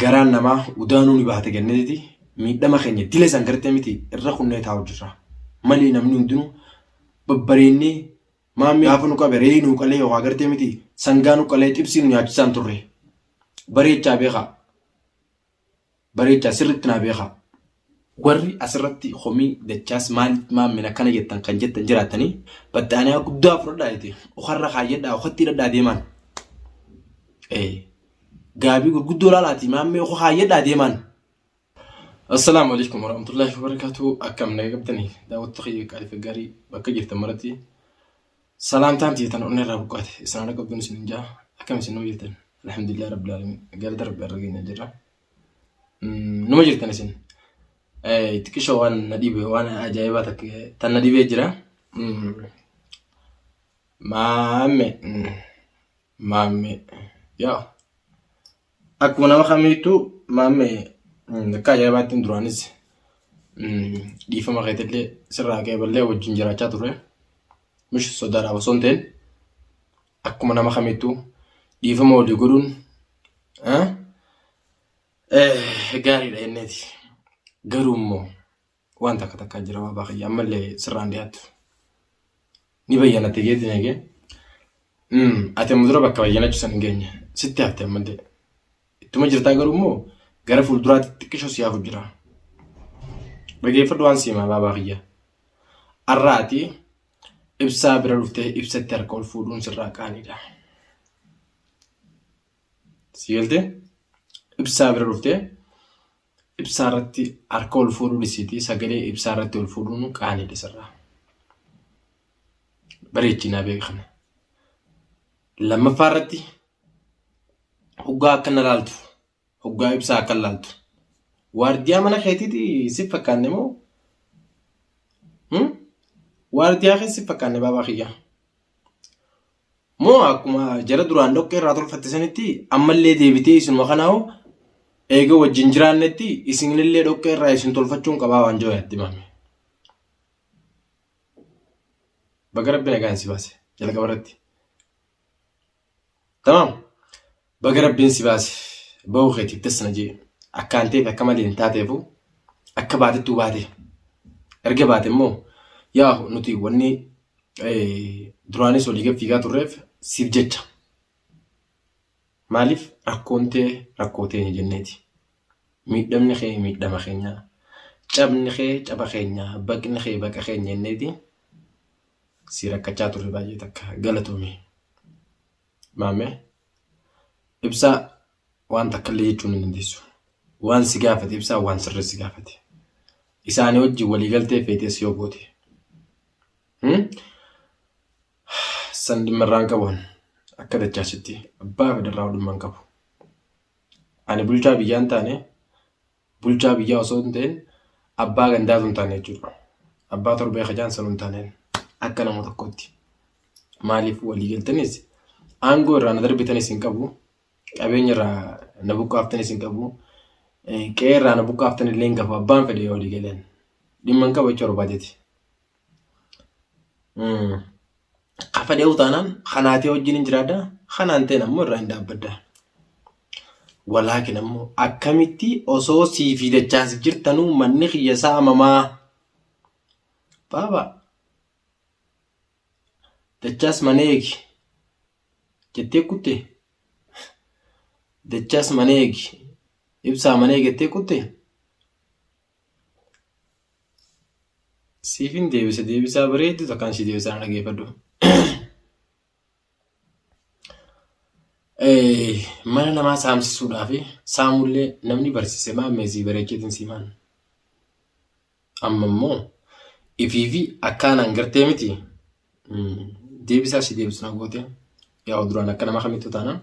garaan namaa udaanuu ni bahate gannetiti miidhama keenya dile san gartee miti irra kunnee taa'u jirra malee namni hundinuu babbareennee maammi gaafa nu qabe re'ee nu qalee yookaan gartee miti sangaa nu qalee xibsii nu nyaachisaan turre bareechaa beekaa bareechaa sirritti naa beekaa Warri asirratti komii dachaas maaliif maammin akkana jettan kan jettan jiraattanii baxxaaniyaa guddaa fudhadhaa jete okarra kaayyadhaa okatti hidhadhaa deemaan. Gaabii gurguddoo laalaati maammee oka kaayyadhaa deemaan. Assalaamu alaikum warahmatullahi wabarakatuh akkam naga qabdanii daawwattoota kiyya qaaliif gaarii bakka jirtan maratti salaamtaan teetan onnee irraa buqqaate isin haala qabduun isin hin jaa akkam isin nuu jirtan alhamdulillah rabbil alamin galata rabbi irra geenya jirra. Numa jirtan isin. Xiqqishoo waan na dhibe waan ajaa'ibaa takka tan na dhibee jira. Maamme maamme yaa akkuma nama kamiittuu maamme akka ajaa'ibaatti duraanis dhiifama keetillee sirraa qeeballee wajjin jiraachaa ture. Mish sodaadhaaf osoo hin ta'in. akkuma nama kamittuu dhiifama walii godhuun eh, eh, gaariidha jenneeti. Garuu immoo waan takka takkaa jira waa baakayya ammallee sirraan dhiyaattu. Ni bayyanatte geetiin eegee. Mm, ati amma dura bakka bayyanachuu san hin geenye. Sitti hafte ammallee. Ittuma jirtaa garuu immoo gara fuulduraatti xiqqishoo si hafu jira. Dhageeffadhu waan siimaa baabaa kiyya. Arraati Ibsaa bira dhuftee ibsatti harka ol fuudhuun sirraa qaaniidha. Si galtee? Ibsaa bira dhuftee ibsaa irratti harka ol fuudhuu dhisiitii sagalee ibsaa irratti ol fuudhuun qaaniidha sirraa. Bareechinaa beekana. Lammaffaa irratti hoggaa akka na laaltu Hoggaa ibsaa akka laaltu. Waardiyaa mana keetiiti si fakkaanne moo? Waardiyaa keessa si fakkaanne baabaa kiyyaa. Moo akkuma jara duraan dhoqqee irraa tolfatte sanitti ammallee deebitee isinuma kanaa hoo eega wajjin jiraannetti isinillee dhoqqee irraa isin tolfachuun qabaa waan jiru yaaddi maame. Baga rabbi nagaan si baase jalqaba irratti. Tamam. Baga rabbiin si baase. Bahuu keetiif das na jee. Akkaan ta'eef akka malee hin taateefu akka baatettuu baate. Erga baate immoo yaa nuti wanni duraanis walii gad fiigaa turreef siif jecha. Maaliif rakkoon tee rakkoo teenya jenneeti. Miidhamni kee miidhama keenyaa. Cabni kee caba keenyaa. Baqni kee baqa keenya jenneeti. si rakkachaa turre baay'ee takka galatoomi. Maamee ibsaa waan takka illee jechuun hin dandeessu. Waan si gaafate ibsaa waan sirrii si gaafate. Isaanii wajjin waliigaltee feetees yoo goote. Hmm? San dhimma irraan qabuun akka dachaasitti abbaa federaa dhimma hin qabu. Ani bulchaa biyyaa hin taane bulchaa biyyaa osoo hin ta'in abbaa gandaatu hin taane jechuudha. Abbaa torbee kajaan sanuu hin taaneen akka nama tokkotti. Maaliif walii galtanis aangoo irraa na darbitanis hin qabu. Qabeenya irraa na buqqaaftanis hin qabu. Qe'ee irraa na buqqaaftan illee hin qabu. Abbaan fedhe yoo walii galeen dhimma hin qabu jechuudha barbaadeti. Kafadhee utaanaan kanaatee wajjin hin jiraadha. Kanaan ta'een ammoo irraa hin dhaabbadda. Walaakin ammoo akkamitti osoo sii fi dachaas jirtanuu manni kiyya saamamaa? Baaba dachaas mana eegi jettee kutte. Dachaas mana eegi ibsaa mana eegi jettee kutte. Siifin deebisa deebisaa bareedu takkaan si deebisaa na dhageeffadhu. Mana namaa saamsisuudhaa fi saamullee namni barsiise maa meesii bareecheetiin siimaan. Amma immoo ifii fi akkaanaan gartee miti deebisaa si deebisu na goote yaa duraan akka nama kamittu taanaan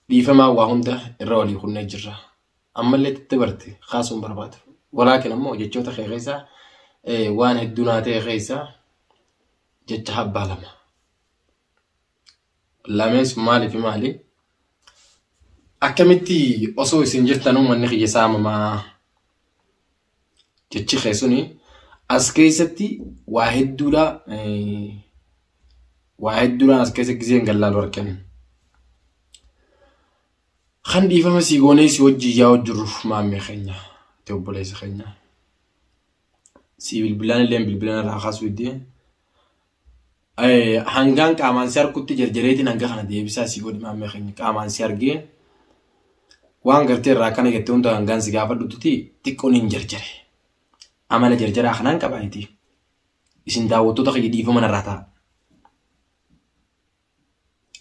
dhiifamaa waa hunda irra walii kunnee jirra. ammallee itti dabarte kaasuun barbaadu. Walaakin ammoo jechoota kee keessaa waan hedduu naa ta'e keessaa jecha habbaa lama. Lamees maaliif maali? Akkamitti osoo isin jirtanuu manni kiyya saamamaa jechi kee suni as keessatti waa hedduudha waa hedduudhaan as keessa giseen gallaalu argame. Kan dhiifama sii goonee si wajjin yaa hojjirruuf maammee keenya ta'e obboleessa keenya. Sii bilbilaan illee bilbilaan irraa kaasuu iddee. Hangaan qaamaan si argutti jarjareetiin hanga kana deebisaa sii godhi maammee keenya qaamaan si argee. Waan gartee irraa akkana jettee hunda hangaan si gaafadhutti xiqqoon hin jarjare. Amala jarjaraa kanaan qabaayiti. Isin daawwattoota kiyya dhiifama narraa ta'a.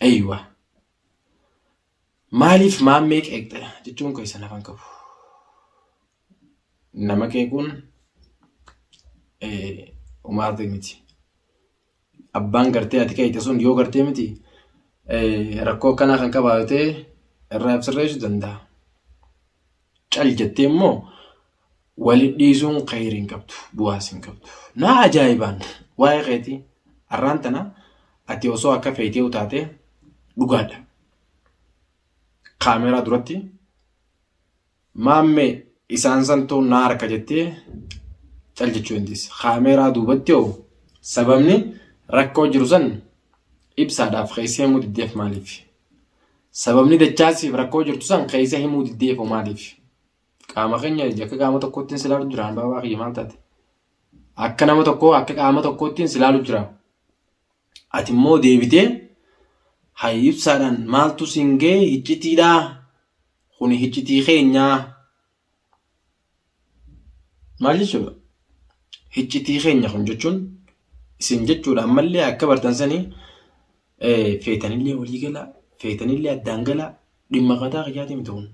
Eeyyuwaa. Maaliif maammee qeeqxa jechuun keessan lafa hin qabu. Nama qeequun umaartee miti. Abbaan gartee ati qeeqxe sun yoo gartee miti rakkoo akkanaa kan qabaatee irraa ibsirreessuu danda'a. Cal jettee immoo wali dhiisuun khayri hin qabdu, bu'aas hin qabdu. Naa ajaa'ibaan waa'ee keetii arraan tana ati osoo akka feeteewu taatee dhugaadha. Kaameeraa duratti maammee isaan santuu naa harka jettee cal jechuu dandeessa. Kaameeraa duubatti hoo sababni rakkoo jiru san ibsaadhaaf keessee mudiddeef maaliif? Sababni dachaan siif rakkoo jirtu san keessa himuu diddee fo maaliif? Qaama keenya akka qaama tokkoottiin silaalu jira baabaa kiyya maal taate? Akka nama tokkoo akka qaama tokkoottiin silaalu jira. Ati immoo deebitee hayi ibsaadhaan maaltu siin ga'e hiccitiidhaa? Kuni hiccitii keenyaa? Maal jechuudha? Hiccitii keenya kun jechuun isin jechuudha ammallee akka bartan sanii feetanillee walii galaa feetanillee addaan galaa dhimma mataa kiyyaati miti kun.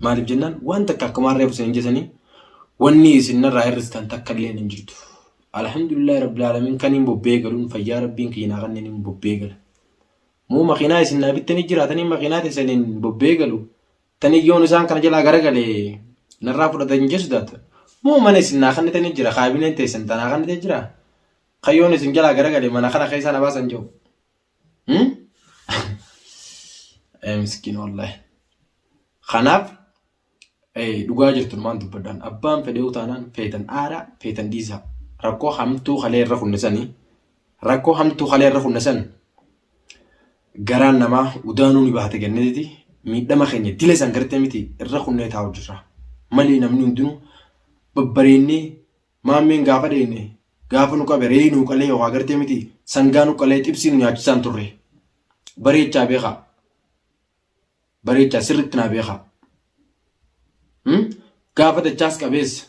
Maaliif jennaan waan takka akkuma harreef isin jedhanii wanni isin irraa hir'istan takka illee hin jirtu. Alhamdulillah rabbil alamin kan hin bobbee galuun fayyaa rabbiin kiyya naa kanneen hin bobbee gala. Moo makiinaa isin naa bittanii jiraatanii makiinaa teessaniin bobbee galu Tanii yoon isaan kana jalaa garagale narraa fudhatan hin jeesu taata. Moo mana isin naa kannitanii jira kaabineen teessan tanaa kannitee jira. Kan yoon isin jalaa garagale mana kana keessaa na baasan jiru. Ee miskiin wallahi. Kanaaf dhugaa jirtu numaan dubbadhaan abbaan fedhee utaanaan feetan aaraa feetan dhiisaa rakkoo hamtuu kalee irra kunnisanii rakkoo hamtuu kalee irra kunnisan Garaan namaa udaanuu ni bahate gannatiti miidhama keenya dila san gartee miti irra kunnee taa'u jirra. Malee namni hundinuu babbareennee maammeen gaafa dheenne gaafa nu qabe re'ee nuu qalee yookaan gartee miti sangaa nu qalee xibsii nu nyaachisaan turre. Bareechaa beekaa. Bareechaa sirriitti naa beekaa. Gaafa dachaas qabeessa.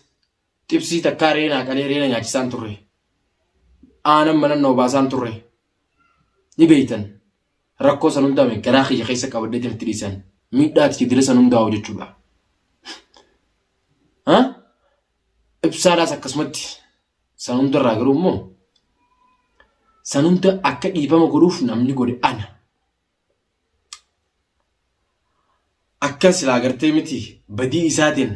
Xibsii takkaa reenaa qalee reena nyaachisaan turre. Aanan manan na obaasaan turre. Ni beeytan. Rakkoo san hundaa mee garaa kiyya keessa qabadhee itti dhiisan. Miidhaa itti dile san hundaa hoo jechuudha. Ha? Ibsaadhaas akkasumatti san hundarraa garuu immoo san hunda akka dhiifama godhuuf namni godhe ana. Akka silaa gartee miti badii isaatiin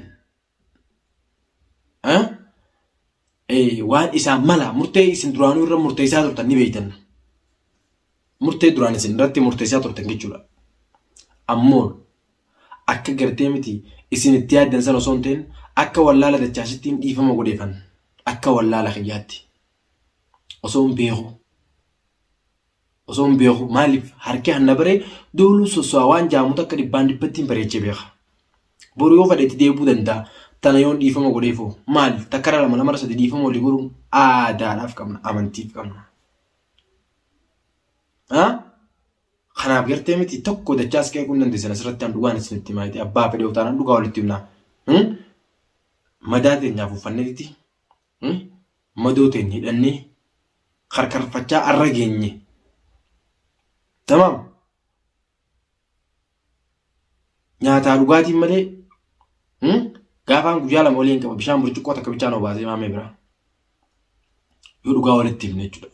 waan isaa mala murtee isin duraanuu irra murteessaa turtan ni beektan. Murtee duraan isin irratti murteessaa turtan jechuudha. Ammoo akka gartee miti isin itti yaaddan sana osoo hin ta'in akka wallaala dachaasittiin dhiifama godheefan akka wallaala kiyyaatti osoo hin beeku. Osoo hin beeku maaliif harki hanna baree dooluu sosso'a waan jaamu takka dhibbaan dhibbattiin bareechee beeka. Boru yoo fadhetti deebuu danda'a. Tana yoon dhiifama godheefoo maali takkara lama lamara sadi dhiifama walii godhuun aadaadhaaf qabna amantiif qabna. Kanaaf gartee miti tokko dachaas qeequu hin dandeessan asirratti an dhugaan isinitti himaa jettee abbaa fedhee utaanaan dhugaa walitti himnaa. Madaa teenyaaf uffannee titi madoo teenya hidhannee karkarfachaa arra geenye. Tamaam. Nyaataa dhugaatiin malee gaafaan guyyaa lama olii hin qaba bishaan burcuqqoo takka bichaan obaasee maamee biraa. Yoo dhugaa walitti himne jechuudha.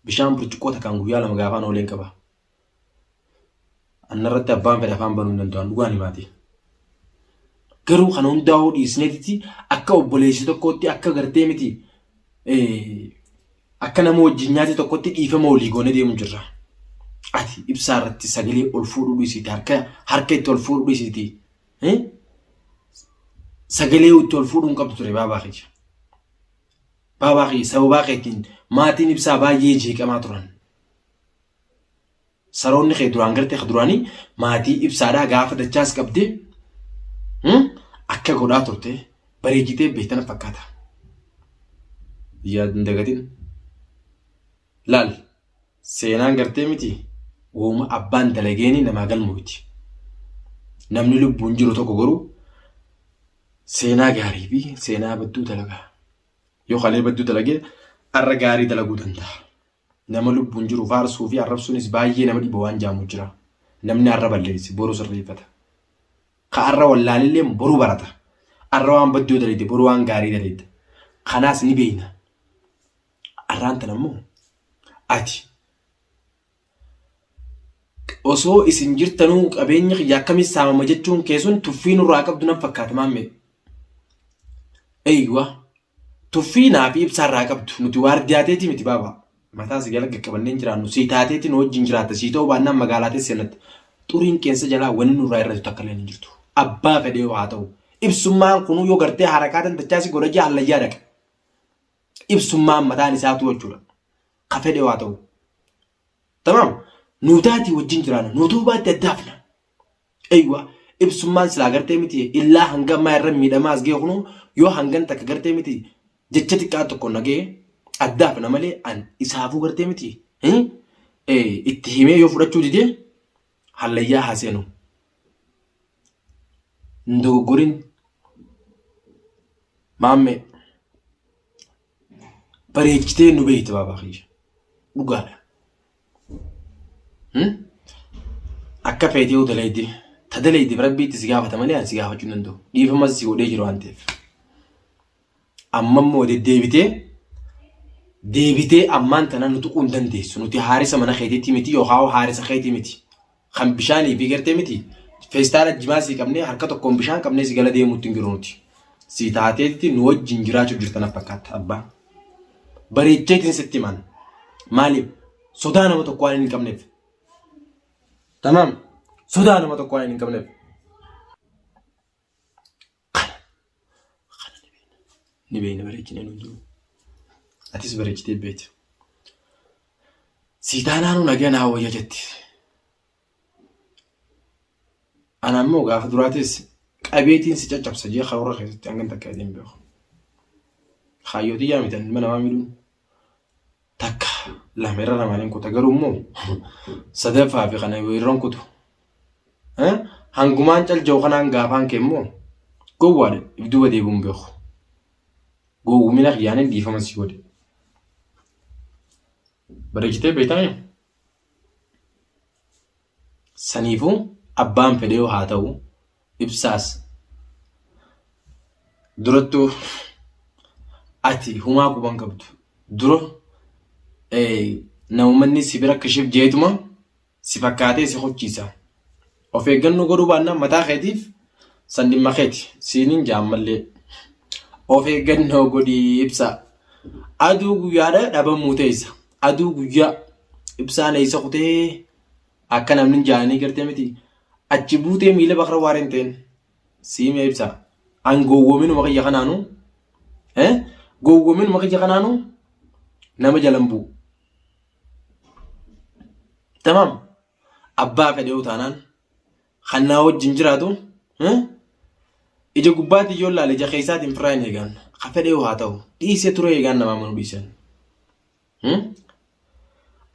Bishaan burcuqqoo takkaan guyyaa lama gaafaan olii hin qaba. Annarratti abbaan fedha afaan banuu hin danda'an dhugaan himaati. Garuu kana hundaa'uu dhiisneetitti akka obboleessi tokkootti akka gartee miti akka nama wajjin nyaate tokkotti dhiifama walii goone deemu jirra. Ati ibsaa irratti sagalee ol fuudhuu dhiisiti harka harka itti ol fuudhuu dhiisiti. Sagalee itti ol fuudhuu hin qabdu ture baabaa keenya. Baabaa keenya sababaa keetiin maatiin ibsaa baay'ee jeeqamaa turan. Saroonni kee duraan gartee ka duraanii maatii ibsaadhaa gaafa dachaas qabdee hmm, akka godhaa turte bareechitee beektana fakkaata. Yaad hin dagatin. Laal seenaan gartee miti wooma abbaan dalageenii namaa galmu miti. Namni lubbuun jiru tokko garuu seenaa gaarii fi seenaa badduu dalagaa. Yoo kalee badduu dalagee arra gaarii dalaguu danda'a. Nama lubbuun jiru faarsuu fi arrabsuunis baay'ee nama dhiba waan jaamu jira. Namni har'a balleesse boru sirreeffata. Ka har'a wallaalelleen boru barata. Har'a waan badduu daleedde boru waan gaarii daleedda. Kanaas ni beeyna. Har'aan tan ammoo ati osoo isin jirtanuu qabeenya kiyya akkamiin saamama jechuun kee sun tuffii nurraa qabdu nan fakkaata maammee. Eeywa. Tuffii naa fi ibsaa irraa qabdu. Nuti waardiyaa teetii miti baaba. Mataa si gala qaqqabannee hin jiraannu. Sii taateetiin wajjin jiraatta. Sii ta'uu baannaan magaalaa teessi seenatta. Xuriin qeensa jalaa wanni nurraa irratti takka illee hin jirtu. Abbaa fedhee yoo haa ta'u. Ibsummaan kunuu yoo gartee harakaa dandachaa si godha jee hallayyaa dhaqa. Ibsummaan mataan isaatuu jechuudha. Ka fedhee yoo haa ta'u. Tamaam. Nuu taatii wajjin jiraanna. Nuu ta'uu baatte addaafna. Eywa ibsummaan silaa gartee miti illaa hanga ammaa irra miidhamaa as ga'e kunuu yoo hangan takka gartee miti jecha xiqqaa tokko nagee addaaf na malee an isaafuu gartee miti itti himee yoo fudhachuu didee hallayyaa haa seenu. Ndogoggorin maammee. bareechitee nu beekte baabaa kiyya. Dhugaadha. Hmm? Akka feetee yoo daleedde ta daleeddeef rabbii itti si gaafata malee ani si gaafachuu hin danda'u. Dhiifamas si godhee jiru waan ta'eef. Amma immoo deddeebitee deebitee ammaan tana nu tuquu hin dandeessu. Nuti haarisa mana keetiitti miti yookaan haarisa keetii miti. kan bishaanii fi gartee miti feestaala jimaa sii qabnee harka tokkoon bishaan qabnee si gala deemuutti hin jiru nuti. Si taateetti nu wajjin jiraachuuf jirtan fakkaata abbaa. Bareecheetiin sitti himan. Maaliif? Sodaa nama tokko waan hin qabneef. Tamaam. Sodaa nama tokko waan hin qabneef. Kana. Kana ni beekna. Ni beekna bareechinee nuun jiru. Atis bareechitee beektu. Sii taanaanuu nagaa naa wayya jetti. Ana ammoo gaafa duraatis qabeetiin si caccabsa jee karoora keessatti hangan takka jedhee hin beeku. Kaayyootii yaa mitan ilma namaa miidhuun takka lama irra lamaan hin kuta garuu immoo sadaffaa fi kana yoo irra hin kutu hangumaan calja'u kanaan gaafaan kee immoo gowwaadha if duuba deebi'uun beeku gowwumina kiyyaanin dhiifama si godhe bareechitee beektaa Saniifuu abbaan fedheyuu haa ta'u ibsaas durattuu ati humaa quban qabdu dura namumanni si bira kishif jeetuma si fakkaatee si kochiisa of eeggannoo godhuu baannaan mataa keetiif san dhimma keeti siinin jaammallee of eeggannoo godhii ibsaa aduu guyyaadha dhabamuu teessa aduu guyyaa ibsaan eessa kutee Akka namni jaanii gartee miti. Achi buutee miila bakra waan hin ta'in. Siimee ibsa. An gowwominuma kiyya kanaanu. Eh? Gowwominuma kiyya kanaanu nama jalan bu'u. Tamam. Abbaa fedhee utaanaan. Kan naa wajjin jiraatu. Eh? Ija gubbaatiin yoo ilaale ija keessaatiin firraa hin eegaan. Ka fedhee haa ta'u. Dhiisee turee eegaan namaa manuu dhiisan.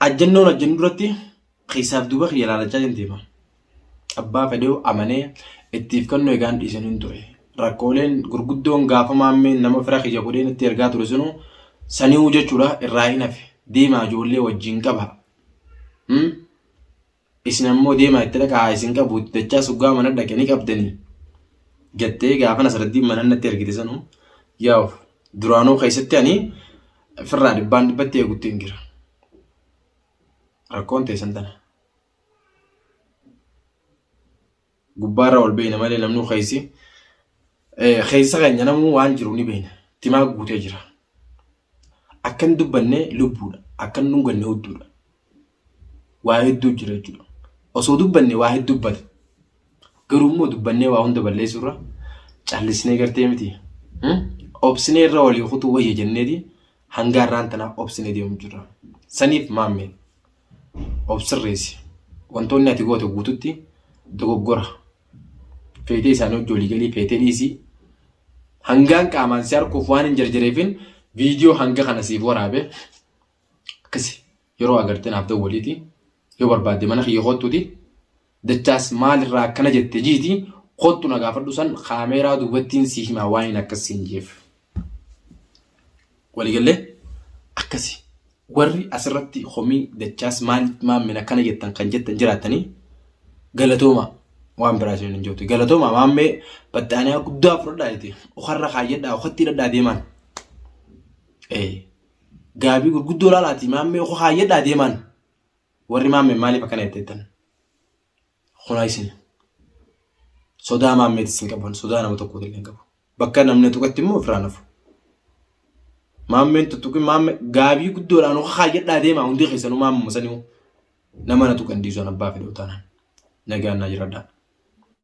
Ajjannoon ajjannu duratti keessaaf duuba kiyya laalachaa hin deema. Abbaa fedheewu amanee ittiif kennu egaan dhiisan hin ture. Rakkooleen gurguddoon gaafa maammeen nama fira kiyya godhee natti ergaa ture sunu sani'uu jechuudha irraa hin hafe. Deemaa ijoollee wajjin qaba. Isin ammoo deemaa itti dhaqaa haa isin qabu itti dachaa suggaa mana dhaqe ni qabdanii jettee gaafa Nasraddiin mana natti ergite sanu yaa'u duraanuu keessatti ani firraa dhibbaan dhibbatti eegutti hin jira. Rakkoon teessan tana. Gubbaarra ol beeyna malee namnuu keessi. Keessa keenya namuu waan jiru ni beeyna. Timaa guutee jira. Akkan dubbanne lubbuudha. Akkan dhunganne hudduudha. Waa hedduu jira jechuudha. Osoo dubbanne waa hedduu dubbata. Garuu immoo dubbannee waa hunda balleessuurra callisnee gartee miti. Obsinee irra walii kutuu wayya jenneeti hangaa irraan tanaa obsinee deemu jirra. Saniif maammee. of sirreessi. Wantoonni ati goote guututti dogoggora. Feetee isaanii hojii olii galii feetee dhiisii. Hangaan qaamaan si harkuuf waan hin jarjareefin viidiyoo hanga kana siif waraabe akkasi yeroo agartee naaf dawwaliiti. Yoo barbaadde mana kiyya kottuuti. Dachaas maal irraa akkana jette jiiti kottu na gaafadhu san kaameeraa duubattiin sii himaa waaniin akkas siin jeef. Walii gallee akkasi warri asirratti komii dachaas maaliif maammeen akkana jettan kan jettan jiraattanii galatoomaa waan biraa isin hin jirtu galatoomaa maammee baxxaaniyaa guddaa fudhadhaa jete okarra kaayyadhaa okatti hidhadhaa deemaan. Ee gaabii gurguddoo laalaatii maammee oka kaayyadhaa deemaan. warri maammee maaliif akkana jetteettan kunaa isin sodaa maammeeti isin qaban sodaa nama tokko illee qabu bakka namni tuqatti immoo ofirraa nafu maammeen tuttuqi maamme gaabii guddoodhaan hoka kaayyadhaa deemaa hundi keessanuu maammuma sanii nama na tuqan diisuun abbaa fedhuu taanaan nagaan naa jiradhaa.